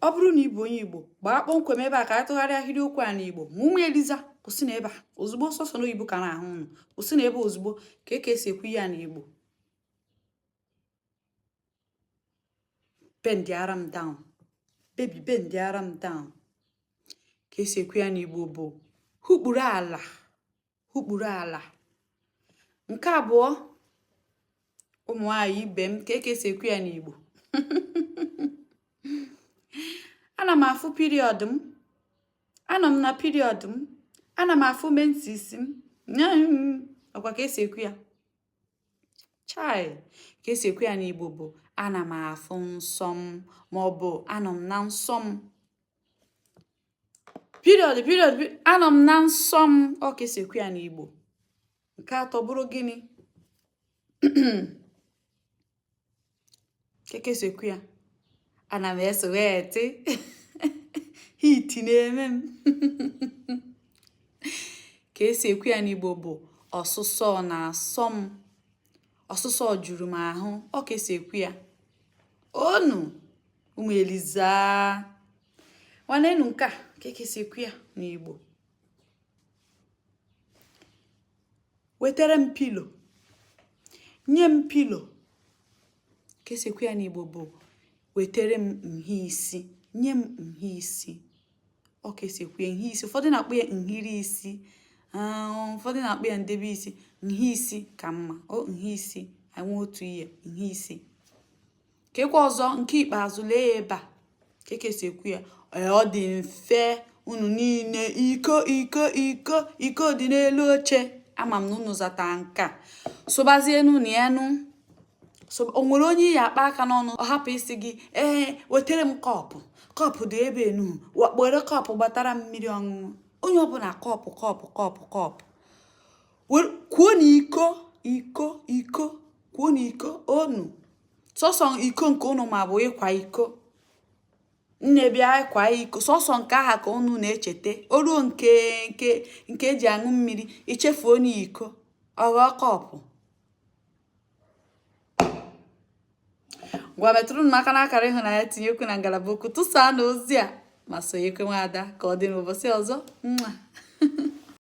ọ bụrụ na ị bụ onye igbo gbaa kpọmkwem ebe a ka a tụgharịa ahịrịokwu a n'igbo ma ụmụ eliza kwụsịnụ ebe a ozugbo sọsọ n'oyibo ka a na-ahụ ụnụ kwụsịnụ ebe a ozugbo kee ka esi ekwu ya n'igbo bendịara m down baby bendịara m down ka esi ekwu ya n'igbo bụ hukpuru ala hukpuru ala nke abụọ ụmụ nwanyị ibe m kee ka esi ekwu ya n'Igbo ana m afụ period m anọ m na period m ana m afụ menses m ọkwa ka esi ekwu ya chai ka esi ekwu ya n'Igbo bụ ana m afụ nsọ m ma ọ bụ anọ m na nsọ m period period anọ m na nsọ m ọ ka esi ekwu ya n'Igbo nke atọ bụrụ gịnị kee ka esi ekwu ya ana m esweatị heat na-eme m ka esi ekwu ya n'Igbo bụ ọsụsọ na-asọ m ọsụsọ juru m ahụ ọ ka esi ekwu ya onu ụmụ eliza nwanenu nke a kee ka esi ekwu ya n'igbo wetere m pillow nye m pillow ka esi ekwu ya n'igbo bụ wetere m nha isi nye m nha isi ọ ka esi ekwu ya nha isi ụfọdụ na-akpọ ya nhiri isi um, ụfọdụ na-akpọ ya ndebe isi nha isi ka mma o nha isi anwe otu ihe nha isi keekwa ọzọ nke ikpeazụ lee ya ebe a kee ka esi ekwu ya ọ dị mfe unu niile iko iko iko iko dị n'elu oche ama m na unu zata nke a sụbazienu na enu so o nwere onye ị ya-akpa aka n'ọnụ ọ hapụ isi gị ee wetere m cup cup dị ebe enu were cup gbatara m mmiri ọṅụṅụ onye ọbụla cup cup cup cup kwuonụ iko iko iko kwuonụ iko onu sọsọ iko nke ụnụ ma bụ ịkwa iko nne bịa ịkwa iko sọsọ nke ahụ ka ụnụ na-echeta o ruo nke nke nke eji aṅụ mmiri echefuonụ iko ọ ghọọ cup ngwa metụrụ m aka n'akara ịhụnanya tinye okwu na ngalaba okwu tụsaanụ ozi a ma sonyekwa nwaada ka ọ dị n'ụbọchị ọzọ nwa